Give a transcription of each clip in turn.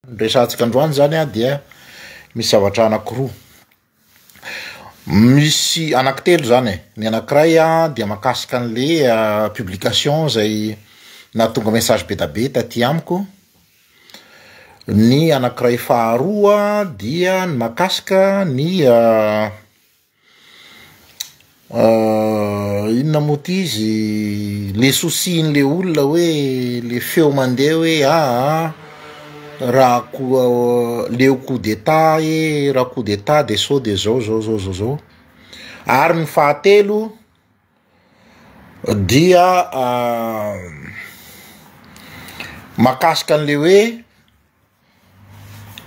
Ny resahantsika androany zany a dia misy zavatra anankiroa, misy anankitelo zany e, ny anankiray a dia mahakasika an'le publication zay nahatonga message be da be taty amiko, ny anankiray faharoa dia ny mahakasika ny. Inona moa ity izy le souci n'le olona hoe le feo mandeha hoe aa raha koa leo coup d'etat ee raha coup d'etat de sao de zao zao zao zao zao ary ny fahatelo dia makasika an'le hoe.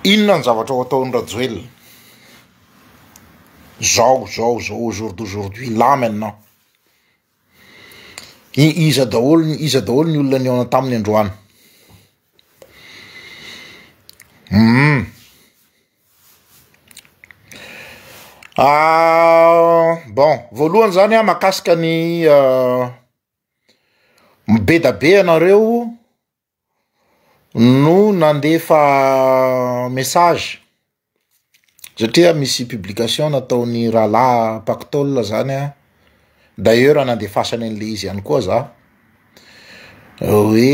Inona ny zavatra ho ataon'i Rajoelina? Zao zao zao au jour d'aujourd'hui là maintenant. Iza daholo iza daholo ny olona nihaona taminy androany? Hum. Ah, bon, voalohany zany ah makasika ny ah, be da be ianareo. no nandefa message satria misy publication nataon'ny rahalahy pactol zany an, d'ailleurs nandefasany anle izy ihany koa za, hoe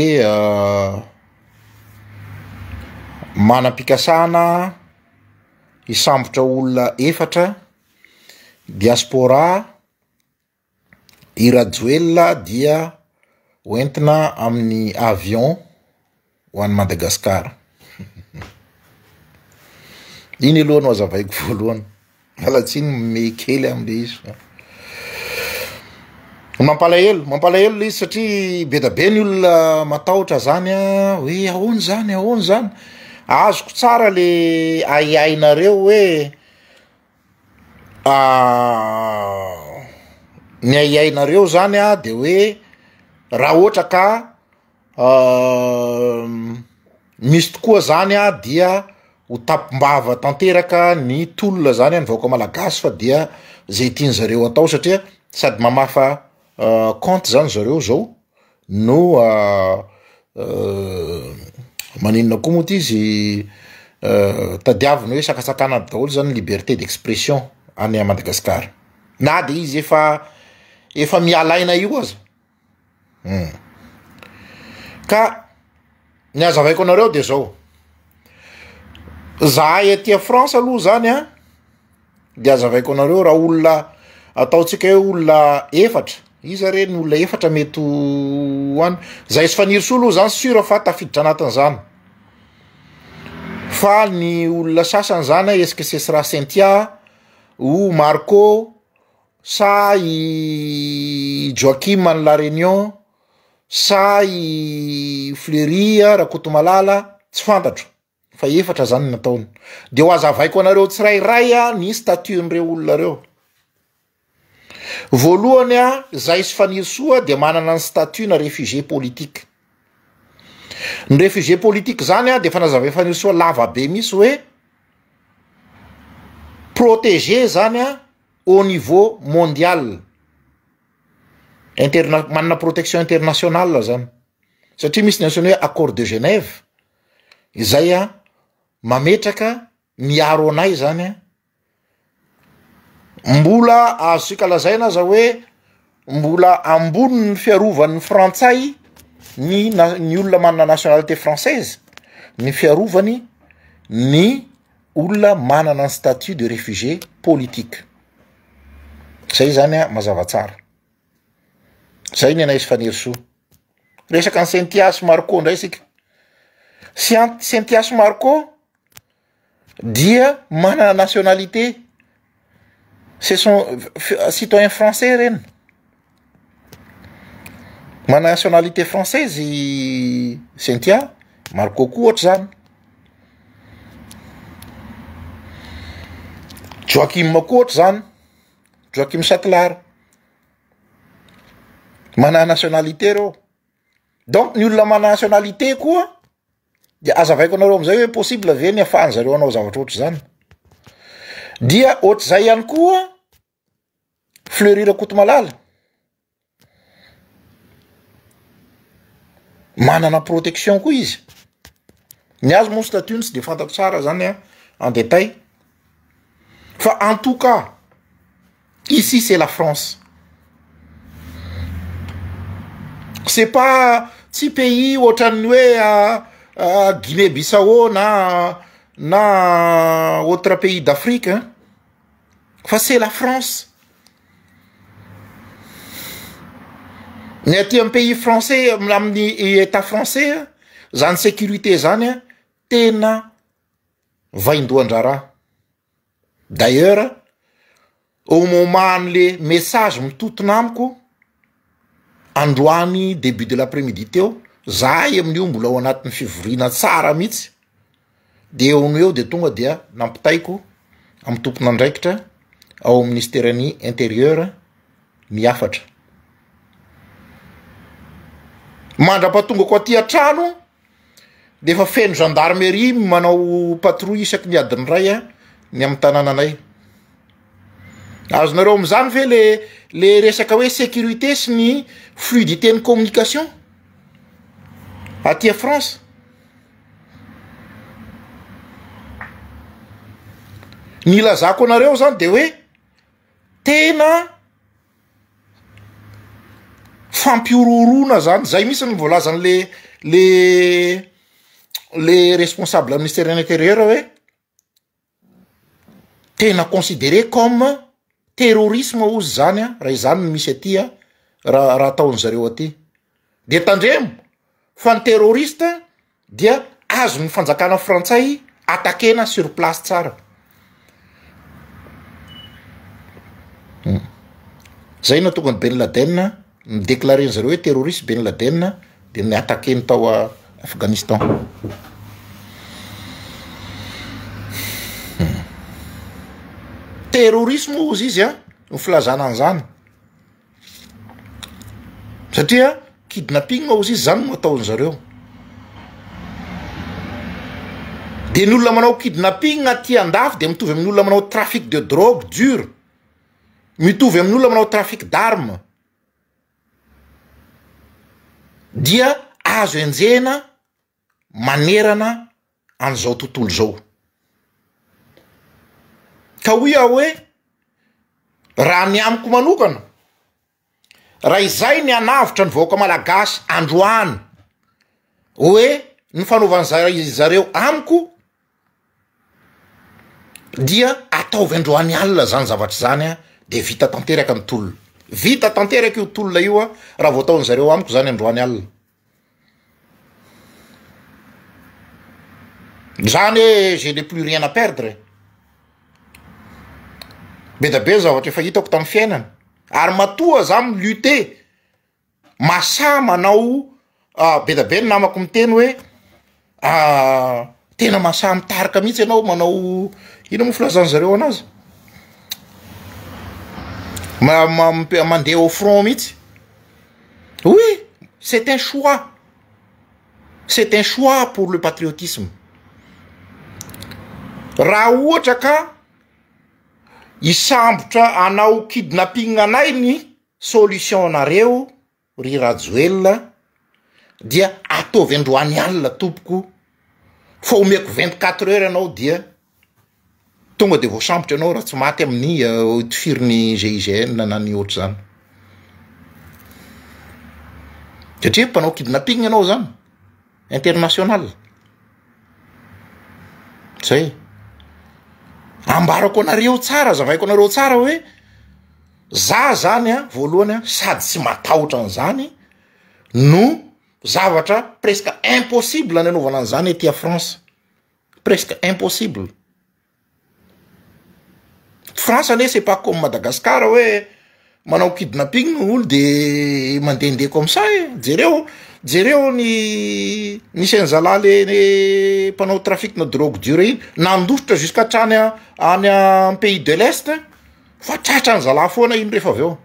manam-pikasana hisambotra olona efatra diaspora. I Rajoelina dia hoentina amin'ny avion ho an'i Madagasikara. Iny aloha no azavaiko voalohany. Miala tsiny mihomehy kely amin'ilay izy fa mampalahelo, mampalahelo ilay izy satria be dia be ny olona matahotra izany hoe ahoana izany, ahoana izany? Azoko tsara le ahiahinareo hoe. ny ahiahinareo zany a de hoe raha ohatra ka misy tokoa zany a dia ho tapimbava tanteraka ny tolona zany any vahoaka malagasy fa dia zay tian'zareo atao satria sady mamafa kaonty zany zareo zao. No maninona koa moa ty izy tadiaviny hoe sakatsakana aby daholo zany liberté d'expression any Madagascar na de izy efa efa miala aina io aza um ka ny azavaiko anareo de zao zahay aty a France aloha zany an. de azavaiko anareo raha olona ataontsika hoe olona efatra iza re ny olona efatra mety ho any zay sy fanirisoa aloha zany sura fa tafiditra anatin'izany fa ny olona sasany zany a esika sesra sentia o marco sa i joakim any la reunion sa i fleuri a rakotomalala tsy fantatro fa efatra zany ny nataony, de ho azavaiko anareo tsirairay a ny statut n'ireo olona reo, voalohany a zay sy Fanirisoa de manana ny statut na réfugié politique, ny réfugié politique zany a de efa nazavain'i Fanirisoa lava be mihintsy hoe protégé zany a au niveau mondial, interna- manana protection internationale zany satria misy ny antsoina hoe accord de Genève. Izay an, mametraka miaro anay izany an, mbola azontsika lazaina aza hoe mbola ambonin'ny fiarovan'ny frantsay ny na- ny olona manana nationalité française ny fiarovany ny olona manana ny statut de réfugié politique, zay zany an mazava tsara. Zay nenay sy Fanirisoa. Resaka an'i Cynthia sy Marco indray isika, Cyn- Cynthia sy Marco dia manana nationalité, ce sont f- citoyens français ireny, manana nationalité française i Cynthia, Marco koa ohatr'izany, Joachim koa ohatr'izany. Joachim Satlar. Manana nationalité reo. Donc ny olona manana nationalité koa de azavaiko anareo amizay hoe possible ve ny afahan zareo hanao zavatra ohatr'izany. Dia ohatr'izay ihany koa Fleury Rakotomalala. Manana protection koa izy, ny azy moa statut-ny tsy de fantako tsara zany an en detail fa en tout cas ici c'est la France, c'est pas tsy pays ohatran'ny hoe Guinée Bissau na na autre pays d'Afrique an. fa c'est la France ny aty am pays français amin'ny etat français a zany sécurité zany a tena vaindohan-draharaha d'ailleurs au moment an'le message mitontona amiko Androany début de l'après-midi teo, zahay amin'io mbola ao anatin'ny fivoriana tsara mihitsy, dia eo no eo dia tonga dia nampitaiko amin'ny tompon'andraikitra ao amin'ny Minisiteran'ny Intérieur ny hafatra. Mandra-pahatongako aty an-trano dia efa feno gendarmerie manao patrouille isaky ny adiny iray a ny amin'ny tanànanay, azonareo amin'izany ve le le resaka hoe sécurité sy ny fluidité ny communication aty a France. Ny ilazako anareo zany de hoe tena. Fampihorohoroana zany izay mihitsy no voalazany le le le responsable ny ministère de l'intérieur hoe tena considere comme terrorisme hozy izany an raha izany no misy aty an raha raha ataon'izareo aty, de tandremo fa ny terroriste. dia azon'ny fanjakana frantsay attaquer-na sur place tsara. Zay nahatonga an'i Ben Laden mi-declarer an'i zareo hoe terroriste Ben Laden dia ni-attaquer-ny tao Afghanistan. Terrorisme hozy izy an, ny filazana an'izany. Satria kidnapping ozy izy zany no ataony zareo, de ny olona manao kidnapping aty andafy de mitovy amin'ny olona manao trafic de drogue dur, mitovy amin'ny olona manao trafic d'armes, dia azo enjehina. manerana an'izao tontolo izao. Ka hoy aho hoe raha ny amiko manokana, raha izay ny hanavotra ny vahoaka malagasy androany hoe ny fanaovan'izareo amiko, dia ataovy androany alina zany zavatra zany a de vita tanteraka ny tolona, vita tanteraka io tolona io a raha vao ataony zareo amiko zany androany alina, zany hoe je n'ai plus rien à perdre e, be dia be ny zavatra efa hitako tamin'ny fiainana ary matoa za mi-lutter. Masaha manao be dia be ny namako miteny hoe tena masaha mitarika mihitsy ianao manao inona moa filazan'ny zareo anazy ma- mandeha au front mihitsy, oui c'est un choix, c'est un choix pour le patriotisme, raha ohatra ka hisambotra hanao kidnapping anay ny. Solution nareo ry Rajoelina dia ataovy androany alina tompoko fa omeko vingt quatre heures ianao dia tonga dia voasambotra ianao raha tsy maty amin'ny tofirin'ny GIGN na ny ohatr'izany satria mpanao kidnapping ianao zany international zay ambarako anareo tsara azavaiko anareo tsara hoe Za zany a, voalohany a, sady tsy matahotra an'izany no zavatra presque impossible ny anaovana an'izany ety à France, presque impossible. France anie c'est pas comme Madagascar hoe manao kidnapping ny olo de mandehandeha comme ça e, jereo jereo ny nisy an'i zalahy le le mpanao trafic-na drogue dur iny nandositra jusqu'à hatrany any pays de l'est. fa tratran'ny zalahy foana iny rehefa avy eo,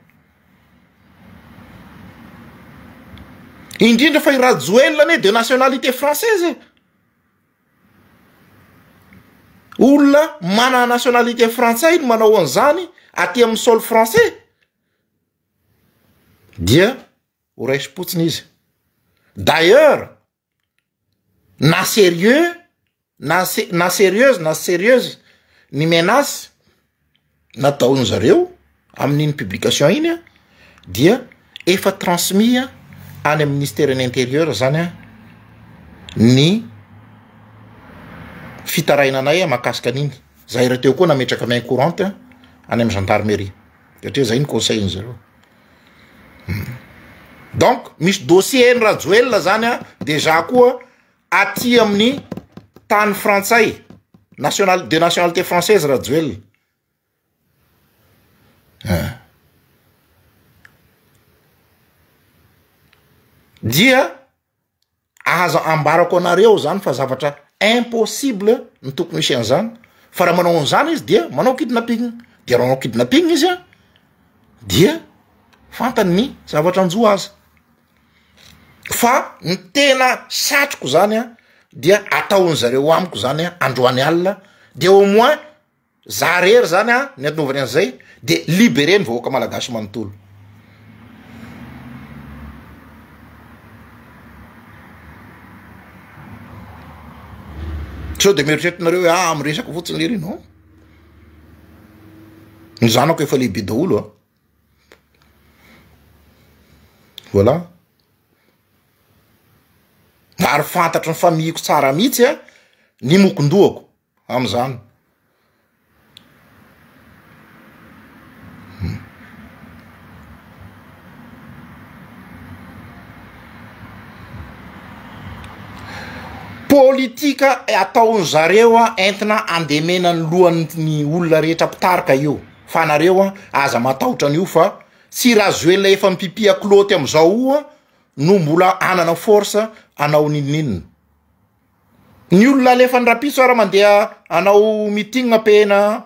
indrindra fa i Rajoelina anie de nationalité française e, olona manana nationalité frantsay no manao an'izany aty amin'ny sol français dia ho raisim-potsiny izy, d'ailleurs. na serieux na se- na serieuse na tsy serieuse ny menace nataon-dry zareo amin'iny publication iny an, dia efa transmis any amin'ny ministeran'ny interieur zany an ny fitarainanay mahakasika an'iny, zay rahateo koa nametraka main courante any amin'ny gendarmerie satria zay no conseil-ndry zareo. Donc misy dossier an'i Rajoelina zany an dejà koa aty amin'ny tany frantsay, national- de nationalité française Rajoelina eh. Dia. Aza ambarako anareo zany fa zavatra impossible ny tokony hisy an'izany fa raha manao an'izany izy dia manao kidnapping, dia raha manao kidnapping izy an dia fantany ny zavatra anjo azy, fa ny tena satriko zany an dia ataon'zareo amiko zany an androany alina dia au moins Za rery zany a ny anaovany an'izay de libere ny vahoaka malagasy manontolo. Sao de mieritreritrnareo hoe ah miresaka fotsiny lery non. Ny zanako efa lehibe daholo a. Ah. Voilà. Ary fantatry ny famihiko tsara mihitsy a ny mokondohako. Amin'izany, politika ataon-dry zareo entina andemena ny lohan'ny olona rehetra mpitarika io fa anareo an, aza matahotra an'io fa tsy Rajoelina efa mipipihak'lôty amin'izao io no mbola hanana force hanao n'inon'inona. Ny olona alefan'ny rapitso ara mandeha hanao meeting pehena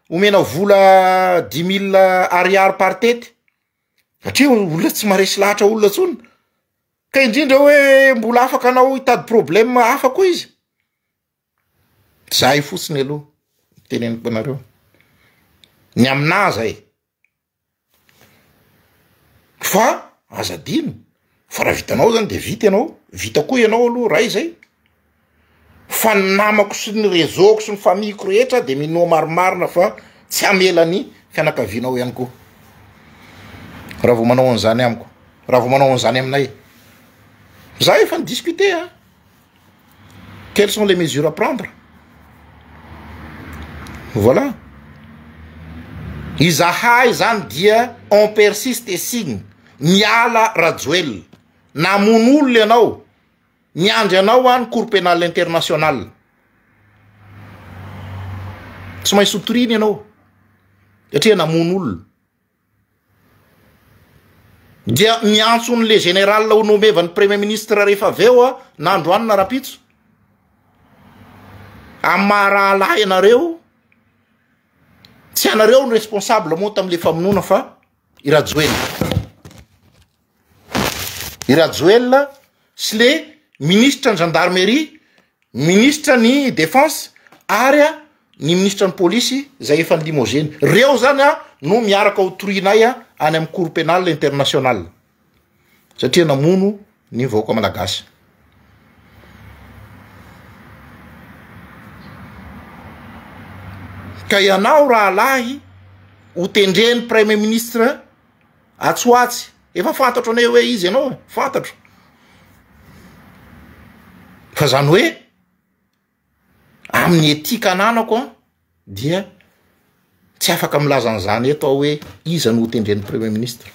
omena vola dix mille ariary par tete satria olona tsy maharesy lahatra olona tsony ka indrindra oe mbola afaka anao hitady problème hafa koa izy zay fotsiny aloha ny teneniko anareo ny aminah zay. Fa aza adino fa raha vitanao zany de vita ianao, vita koa ianao aloha ray zay, fa ny namako sy ny réseau-ko sy ny famille-ko rehetra de minoa marimarina fa tsy hamela ny fianakavianao ihany koa raha vao manao an'izany amiko, raha vao manao an'izany aminay, za efa ni-discuter an. Quelles sont les mesures à prendre Voilà. Izahay zany dia on persiste et signe. Miala Rajoelina. Namono olona ianao. Miandry anao any Cour pénale internationale. Tsy maintsy sotorina ianao. Satria namono olona. Dia niantso ny le général ho nomevan'ny premier ministre rehefa avy eo na androany na rahampitso, amin'ny maha rahalahy anareo, tsy ianareo no responsable moa tamin'ilay famonoana fa i Rajoelina. i Rajoelina sy le minisitra ny gendarmerie, minisitra ny defense ary a ny minisitra ny polisy izay efa limogene. Reo zany a no miaraka ho torianay a any amin'ny cour penal international satria namono ny vahoaka malagasy. Ka ianao rahalahy ho tendren'ny praimiministra. Atsy ho atsy. Efa fantatro anay hoe iza ianao e, fantatro. Fa zany hoe amin'ny éthique ananako an dia tsy afaka milaza an'izany eto aho hoe iza no ho tendren'ny premier ministre.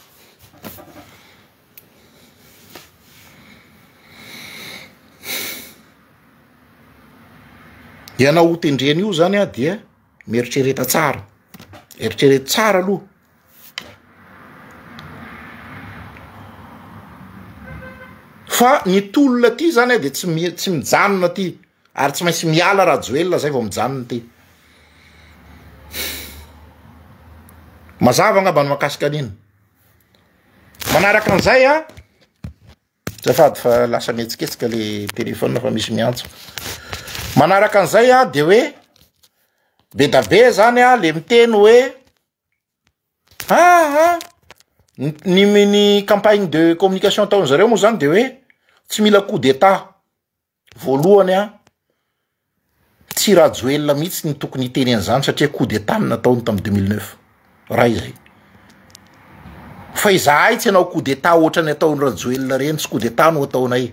Ianao ho tendrena io zany an dia mieritrereta tsara, eritrereto tsara aloha. Fa ny tolona aty zany dia tsy mi- tsy mijanona aty ary tsy maintsy miala Rajoelina zay vao mijanona aty. Mazava angamba ny mahakasika an'iny. Manaraka an'izay a, azafady fa lasa mihetsiketsika le téléphone fa misy miantso. Manaraka an'izay a, de hoe be da be zany a le miteny hoe. Aa! ny ny campagne de communication ataon'ny zareo moa zany de hoe tsy mila coup d'etat, voalohany a tsy Rajoelina mihitsy no tokony hiteny an'izany satria coup d'etat no nataony tamin'ny deux mille neuf, ray zay, fa izahay tsy hanao coup d'etat ohatran'ny ataon'i Rajoelina ireny, tsy coup d'etat no ataonay.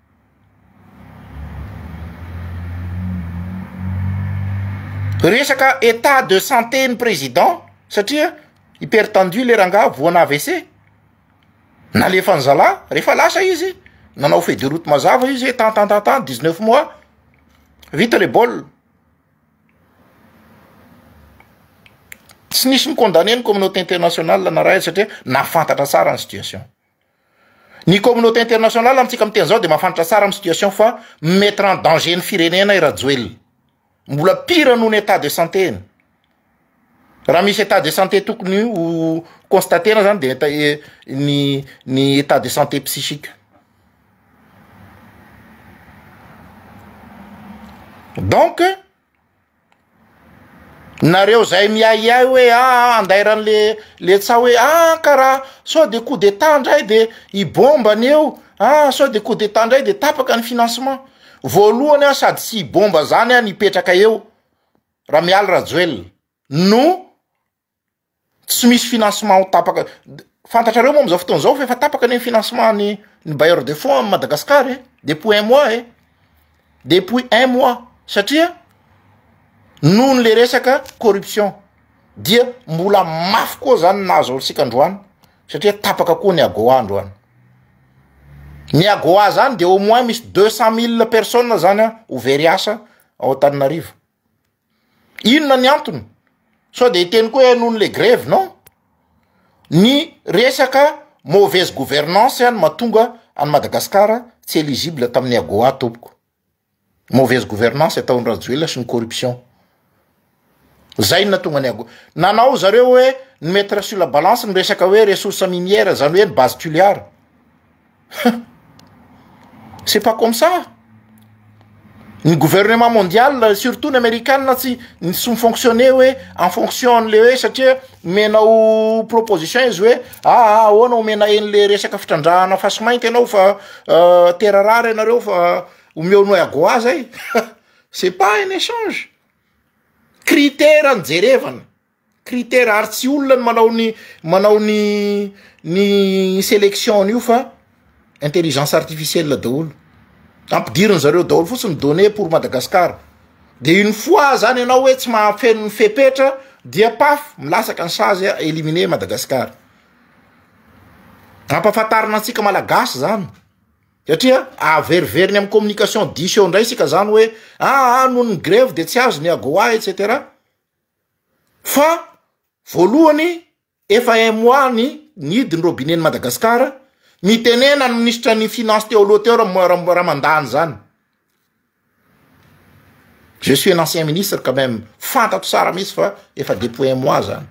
Resaka état de santé ny président satria hyper tendu le rangahy voan' AVC, nalefany zalahy rehefa lasa izy nanao feuille de route mazava izy hoe tantantantan dix neuf mois vita le baolina, tsy nisy ni-condamner ny communauté internationale narahiny satria nahafantatra tsara ny situation. Ny communauté internationale amintsika miteny zao dia mahafantatra tsara ny situation fa mi mettre en danger ny firenena i Rajoelina. Mbola pire noho ny état de santé-ny. Raha misy état de santé tokony ho constater-na zany dia état eh, ny ny état de santé psychique. Donc. Nareo zay miahiahy hoe aa andairan le le tsaho hoe aa ka raha sao de coup d'etat ndray de i bomba ny eo aa sao de coup d'etat ndray de tapaka ny financement voalohany an sady tsy i bomba zany an hipetraka eo Ramialy Rajoelina no Tsy misy financement ho tapaka, fantatrareo moa amin'izao fotoana izao fa efa tapaka anie ny financement ny ny bailleur de fonds amin'i Madagasikara e, depuis un mois e, depuis un mois satria noho ny le resaka corruption dia mbola mafy koa zany ny nahazo antsika androany satria tapaka koa ny AGOA androany, ny AGOA zany dia au moins misy deux cent mille personnes zany an ho very asa ao Antananarivo. Inona ny antony? Sao dia hiteny koa hoe noho ny le grevy? Non, ny resaka mauvaise gouvernance no mahatonga an'i Madagasikara tsy eligible tamin'ny AGOA tompoko, mauvaise gouvernance ataon'i Rajoelina sy ny corruption, zay no nahatonga ny agoa. Nanao zareo hoe ny mettre sur la balance ny resaka hoe ressource minière zany hoe ny base tuliar. Hum! C'est pas comme ça! Ny gouvernement mondial surtout ny amerikana tsy mi-fonctionne hoe en fonction an'le hoe satria omenao proposition izy hoe aa ahoana omena an'le resaka fitrandrahana fasimainty ianao fa tera rare ianareo fa omeo noix à goa zay, c'est pas un échange! Critera no jerevana. critère ary tsy olona ny manao ny manao ny ny selection an'io fa intelligence artificielle daholo ampidiriny zareo daholo fotsiny ny données pour Madagascar de une fois zany ianao hoe tsy mahafeno ny fepetra dia paf milatsaka ny sazy a éliminer i Madagascar ampahafantarina antsika malagasy zany satria averiveriny amin'ny communication diso eo indray isika zany hoe aa noho ny grevy de tsy azo ny AGOA et cetera Fa voalohany efa un mois ny nihidy ny robinet ny Madagascar, nitenena ny minisitra ny finance teo aloha teo Ramandany izany, je suis un ancien ministre quand même fantatro tsara mintsy fa efa depuis un mois izany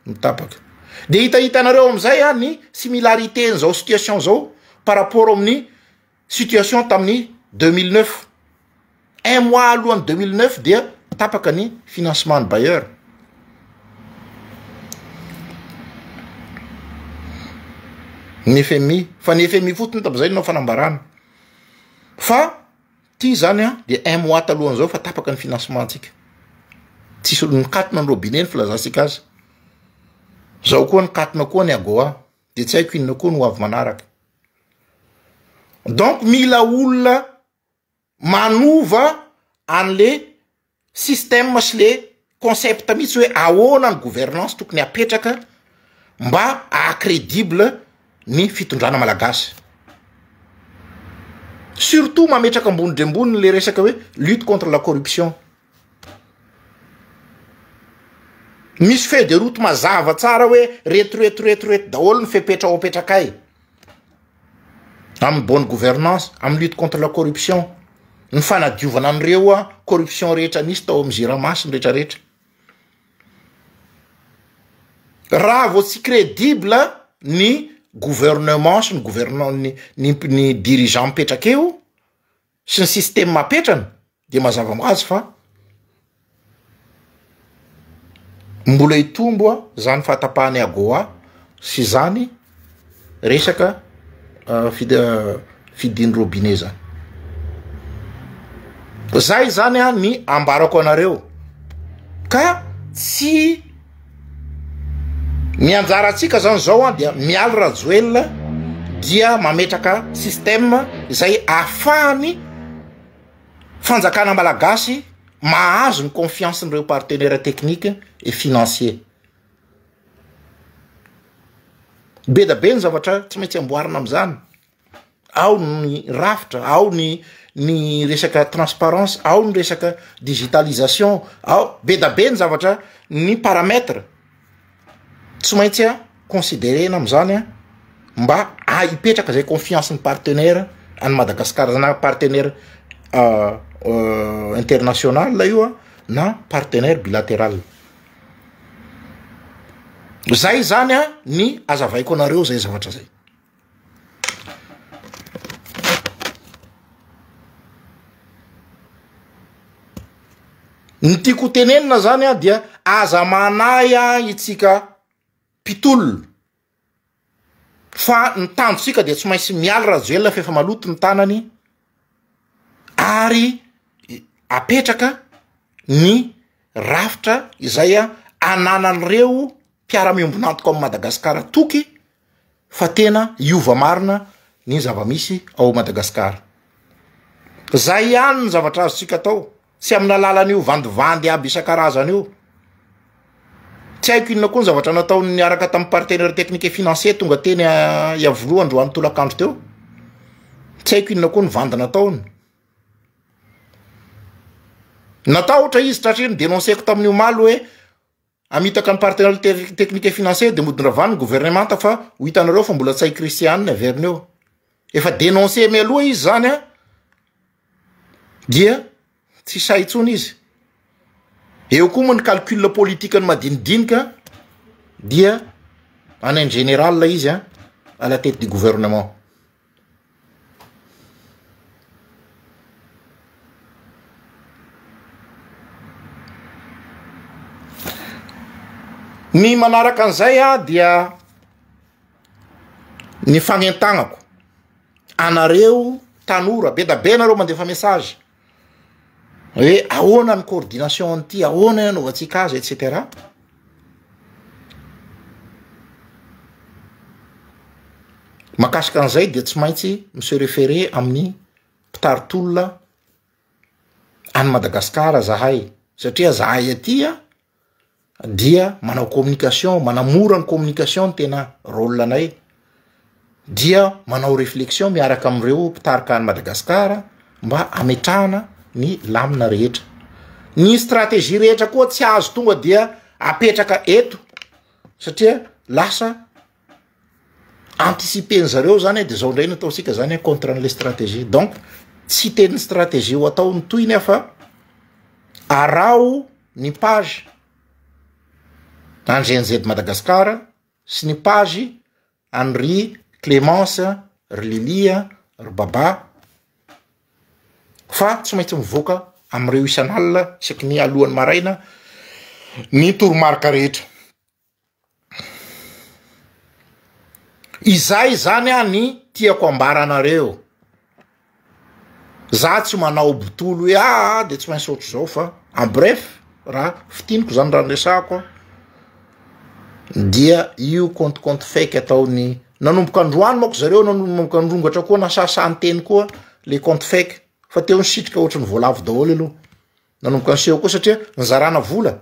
no tapaka, dia hitahitanareo amin'izay ny similarite an'izao situation izao par rapport amin'ny. situation tamin'ny deux mille neuf, un mois alohan'ny deux mille neuf dia tapaka ny financement ny bailleur. Ny FMI, fa ny FMI fotsiny tamin'izay nanao fanambarana fa ity zany an dia un mois talohan'izao fa tapaka ny financement antsika, tsisy nikatona ny robinet ny filazantsika azy, zao koa nikatona koa ny AGOA. de tsy haiko inona koa no avy manaraka donc mila olona manova an'le système sy le concept mihitsy hoe ahoana ny gouvernance tokony apetraka mba aha credible ny fitondrana malagasy surtout mametraka ambony dre ambony le resaka hoe lutte contre la corruption Misy feuille de route mazava tsara hoe reto reto reto reto daholo ny fepetra ho apetrakay amin'ny bonne gouvernance, amin'ny lutte contre la corruption, ny fanadiovana an'ireo an corruption rehetra nisy tao amin'ny Jirama sy ny rehetra rehetra. Raha vao tsy credible ny gouvernement sy ny gouvernent ny ny ny dirigeant mipetraka eo, sy ny système apetrany de mazava ho azy fa mbola hitombo a zany fahatapahan'ny AGOA sy zany resaka fid- fidin'ny robinet zany. Zay zany a ny ambarako anareo ka tsy. Ny anjarantsika zany zao an dia mialy Rajoelina dia mametraka système izay ahafahany fanjakana malagasy mahazo ny confiance n'ireo partenaires techniques et financiers. Be da be ny zavatra tsy maintsy amboarina amin'izany. ao ny rafitra, ao ny ny resaka transparence, ao ny resaka digitalisation, ao be da be ny zavatra ny paramètre tsy maintsy a considerena am'zany a mba ah hipetraka zay confiance ny partenaire any Madagascar zany na partenaire international io a na partenaire bilateral, zay zany a ny azavaiko anareo zay zavatra zay. Ny tiako ho tenenina izany an dia aza manahy an itsika mpitolona fa ny tanjontsika dia tsy maintsy mialy Rajoelina fa efa maloto ny tanany ary apetraka ny rafitra izay ananan'ireo mpiara-miombon'antoka ao Madagasikara toky fa tena hiova marina ny zava-misy ao Madagasikara. Izay ihany ny zavatra azontsika atao, tsy amin'ny alalan'io vandivandy aby isan-karazany io. Tsy haiko inona koa ny zavatra nataony niaraka tamin'ny partenaire technique et financier tonga teny ah, Iavoloha androany tolakandro teo. Tsy haiko inona koa ny vandy nataony. Natahotra izy satria ny denoncer-ko tamin'ny omaly hoe Hamitaka ny partenariat te- technique et financier dia modin-dravalo ny governemanta fa ho hitanareo fa mbola tsy hay Christian ny averiny eo. Efa denoncer mialoha izy zany an, dia tsy sahy intsony izy. Eo koa moa ny calcul politique ny madinidinika an, dia en un général izy an, à la tête du gouvernement. Ny manaraka an'izay dia ny fanentanako anareo tanora be dia be nareo mandefa message. Hoe ahoana ny coordination an'ity, ahoana ny anaovantsika azy et cetera. Makasika an'izay dia tsy maintsy mi-se referer amin'ny mpitari-tolona any Madagasikara zahay satria zahay aty an. dia manao communication manamora ny communication ny tena rôle anay dia manao reflexion miaraka amin'ireo mpitarika any Madagasikara mba ametrahana ny lamina rehetra ny stratégie rehetra koa tsy azo tonga dia apetraka eto satria lasa anticiper ny zareo zany de zao ndray no ataontsika zany a contre an'le stratégie donc tsy hiteny ny stratégie ho atao ny tohiny aho fa araho ny page an'i GNZ Madagascar sy ny page an'i ry Clemence ry Lily a ry Baba fa tsy maintsy mivoaka am'ireo isan'alina isaky ny alohan'ny maraina ny toromarika rehetra. Izay izany aho ny tiako ambara anareo, za tsy manao botolo hoe aa de tsy maintsy ohatr'izao fa en bref raha fintiniko izany raha niresahako aho dia io kôntikônty fake ataon'ny nanomboka androany manko zareo nanomboka nirongatra koa nasasahan'ny teny koa le kônty fake fa teo nisitrika ohatry ny voalavo daholo aloha. Nanomboka niseho koa satria nizarana vola,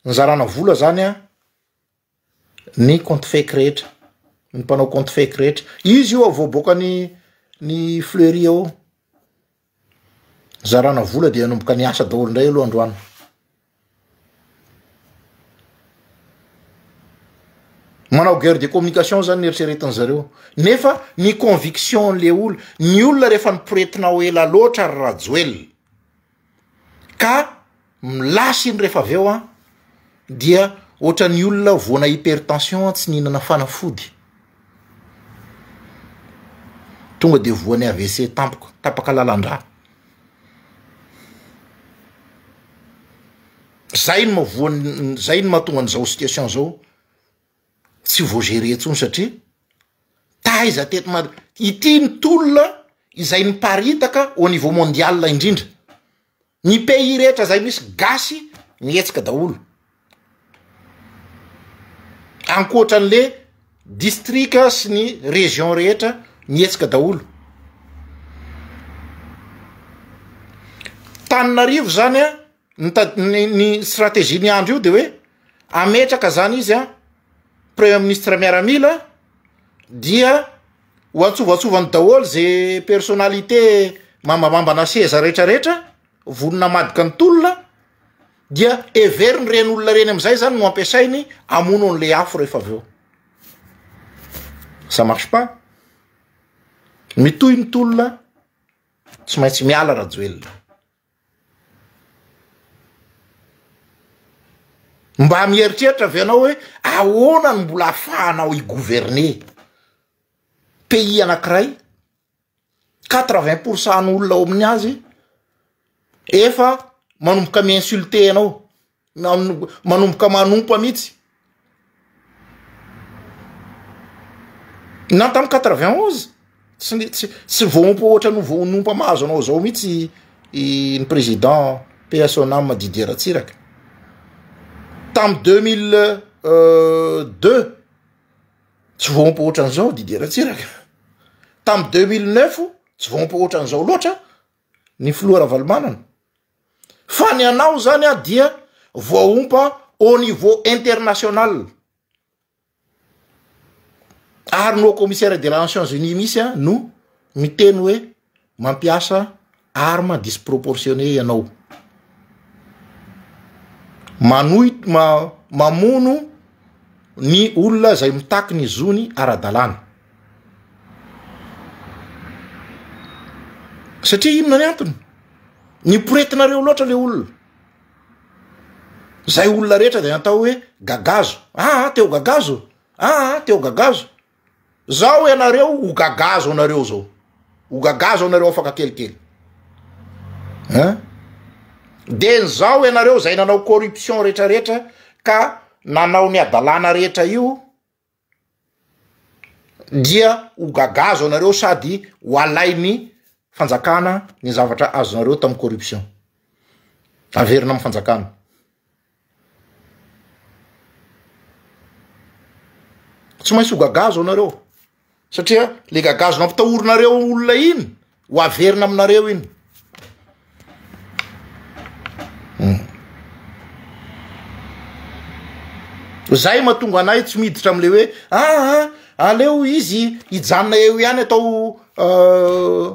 nizarana vola zany a ny compte fake rehetra, ny mpanao compte fake rehetra. Izy io vao boaka ny ny fleury ao, nizarana vola dia nanomboka niasa daholo indray aloha androany. Manao guerre de communication zany ny eritreretin'ny zareo nefa ny conviction an'le olona, ny olona rehefa niporetina ho ela loatra ry Rajoelina. ka milasy iny rehefa avy eo an dia ohatran'ny olona voana hypertension tsy nihinana fanafody tonga dia voan'ny AVC tampoka, tapaka lalan-drà. Zay no maha voan'ny zay no mahatonga an'izao situation zao. tsy vao gerer intsony satria taiza teto mad ity ny tolona izay miparitaka au niveau mondial indrindra ny pays rehetra zay misy gasy mihetsika daholo ankoatran'le distrika sy ny region rehetra mihetsika daholo Tananarivo zany an Ny ta- ny, ny stratégie-n'i Andry io de hoe ametraka zany izy a premier ministre miaramila dia ho antsovatsovany daholo ze personnalité mambamambana seza retraretra vonona hamadika ny tolona dia heveriny reny olona reny amizay zany no ampiasainy amono an'le afo rehefa avy eo ça marche pas mitohy ny tolona tsy maintsy miala rajoelina Mba mieritreritra ve ianao hoe ahoana no mbola ahafahanao hi-gouverner pays anankiray quatre vingt pour cent ny olona ao amin'ny azy efa manomboka mi-insulter anao? na manomboka manompa mihitsy na tamin'ny quatre vingt onze tsy ny tsy tsy voaompa ohatra ny voanompa mahazo anao zao mihitsy ny président paix à son âme Didier Ratsiraka tamin'ny deux mille euh, deux tsy voaompa ohatra an'izao Didier Ratsiraka tamin'ny deux mille neuf tsy voaompa ohatra an'izao loatra ny filoha Ravalomanana Fa ny anao zany a dia voaompa au niveau international. Ary ny haut commissaire de la Nations Unies mihitsy a no miteny hoe mampiasa arme disproportionnée ianao. Manohit- ma- mamono ny olona izay mitaky ny zony ara-dalàna. Satria inona ny antony? Niporetinareo loatra le olona. Zay olona rehetra dia atao hoe gagazo. Ah, teo gagazo. Ah, teo gagazo. Zao ianareo ho gagazo anareo zao. Ho gagazo anareo afaka kelikely. Hein? Dia nizao ianareo zay nanao corruption rehetra rehetra ka nanao ny adalana rehetra io dia ho gagazo anareo sady ho alainy fanjakana ny zavatra azonareo tamin'ny corruption, averina amin'ny fanjakana. Tsy maintsy ho gagazo anareo. Satria le gagazo nampitahorinareo olona iny ho averina aminareo iny. Hmm. Zay matonga anay tsy miditra amle hoe aa ah, ah, aleo izy hijanona eo ihany atao euh,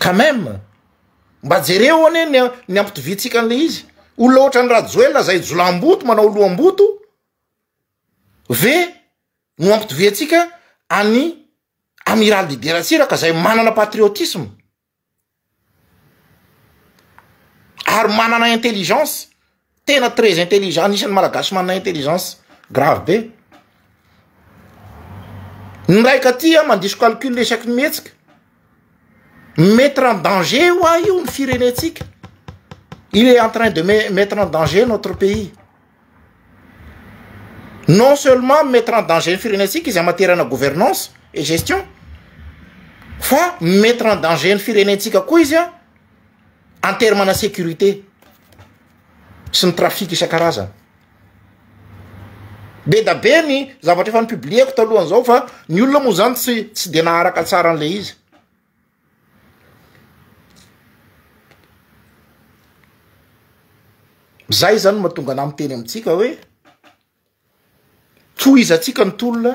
Quand même! Mba jereo anie ny ny ampitoviantsika an'ilay izy. Olona ohatran'i Rajoelina izay jiolahimboto manao loham-boto ve no ampitoviantsika an'i Amiral Didier Ratsiraka izay manana patriotisme ary manana intelligence. tena très intelligent anisan'ny malagasy manana intelligence grave be ny raika aty a mandiso calcul isaky ny mihetsika mi-mettre en danger ho ahy io ny firenentsika il est en train de me- mettre en danger notre pays non seulement mi-mettre en danger ny firenentsika izy amaterana gouvernance et gestion fa mi-mettre en danger ny firenentsika koa izy a en terme na sécurité sy ny trafic isan-karazany, be da be ny zavatra efa ni-publier-ko talohan'izao fa ny olona moa zany tsy tsy de naharaka tsara an'ilay izy. Zay zany no mahatonga anah miteny amintsika hoe tohizantsika ny tolona,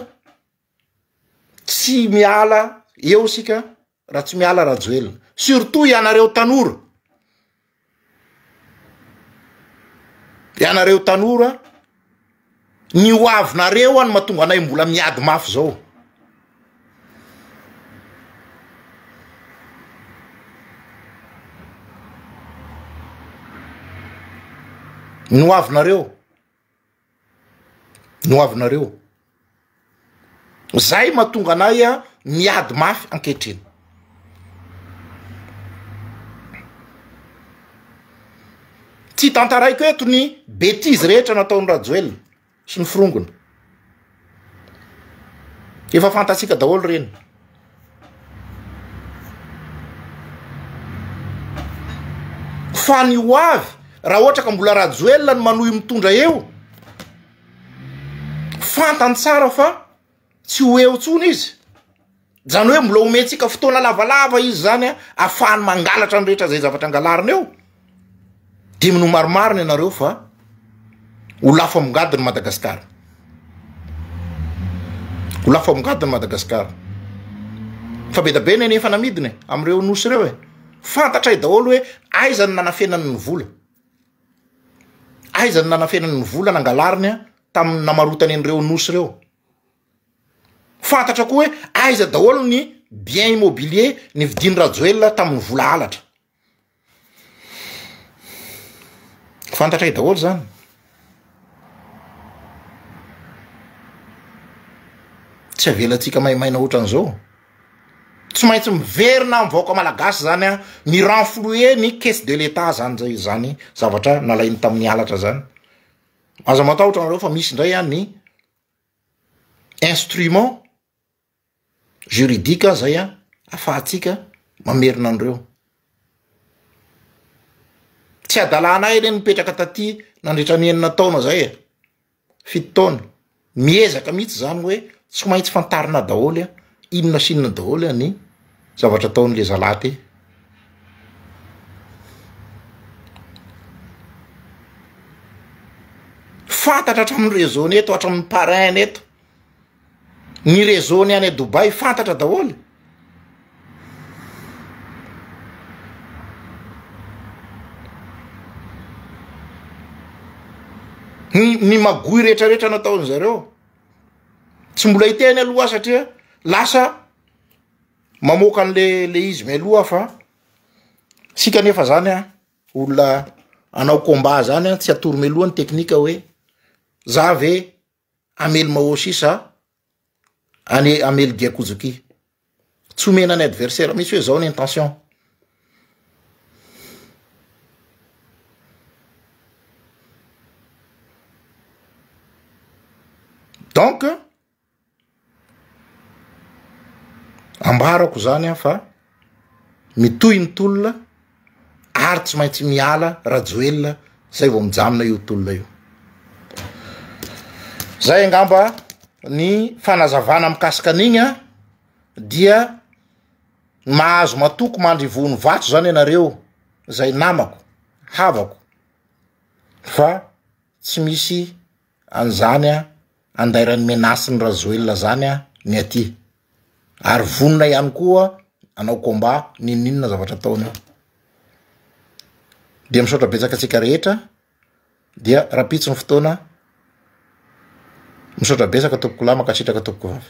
tsy miala eo isika. Ratsimiala Rajoelina surtout ianareo tanora ianareo tanora ny ho avinareo any mahatonga anay mbola miady mafy zao ny ho avinareo no avy nareo zay mahatonga anay miady mafy ankehitriny tsy tantaraiko eto ny betizy rehetra nataon'i Rajoelina sy ny forongony Efa fantatsika daholo ireny. Fa ny ho avy raha ohatra ka mbola Rajoelina no manohy mitondra eo, fantany tsara fa tsy ho eo intsony izy. Zany hoe mbola omentsika fotoana lavalava izy zany an, afahany mangalatra ny rehetra zay zavatra angalariny eo, de mino marimarina ianareo fa ho lafo amngadiny Madagascar, ho lafo amngadiny Madagascar, fa be da be ny any efa namidina e, amreo nosy reo e, fantatray daholo hoe aiza no nanafenany ny vola, aiza no nanafenany ny vola nangalariny an, tamin'ny namarotany anreo nosy reo. Fantatra koa hoe aiza daholo ny bien immobilier nividian'i Rajoelina tamin'ny vola halatra. Fantatray daholo zany. Tsy avelantsika maimaina ohatran'izao. Tsy maintsy miverina amin'ny vahoaka malagasy zany a, mi renflouer ny caisse de l'Etat zany zay zany zavatra nalainy tamin'ny halatra zany. Aza matahotra anareo fa misy indray a ny. instrument juridique aza zay an afahantsika mamerina an'ireo. Tsy hadalana ahy le nipetraka taty nandritra ny enina taona zay e, fito taona, miezaka mihitsy zany hoe tsy maintsy fantarina daholo an inona sy inona daholo an ny. zavatra ataony le zalahy ty. Fantatra hatramin'ny réseau-ny eto, hatramin'ny parrain-ny eto, ny réseau-ny any Dubaï fantatra daholo. Ny ny magouille rehetrarehetra nataony zareo tsy mbola hiteny aloha aho satria lasa. mamoaka an'le le izy mialoha aho fa sika nefa zany a olona anao combat zany a tsy atoro mialoha ny teknika hoe za ve amely maoshi sa any amely diakojoki tsy omena ny adversaire misy hoe zao ny intention donc Ambarako izany an fa mitohy ny tolona ary tsy maintsy miala Rajoelina izay vao mijanona io tolona io. Izay angamba ny fanazavana mikasika an'igny an dia mahazo matoky mandry vohon'ny vato izany ianareo izay namako, havako fa tsy misy. An zany an andairan'ny menace ny rajoelina zany an ny aty ary vonona ihany koa anao combat ninoninona zavatra ataony io dia misaotra betsaka antsika rehetra dia rapitso ny fotoana misaotra betsaka tompokolahy mankasitraka tompoko vavy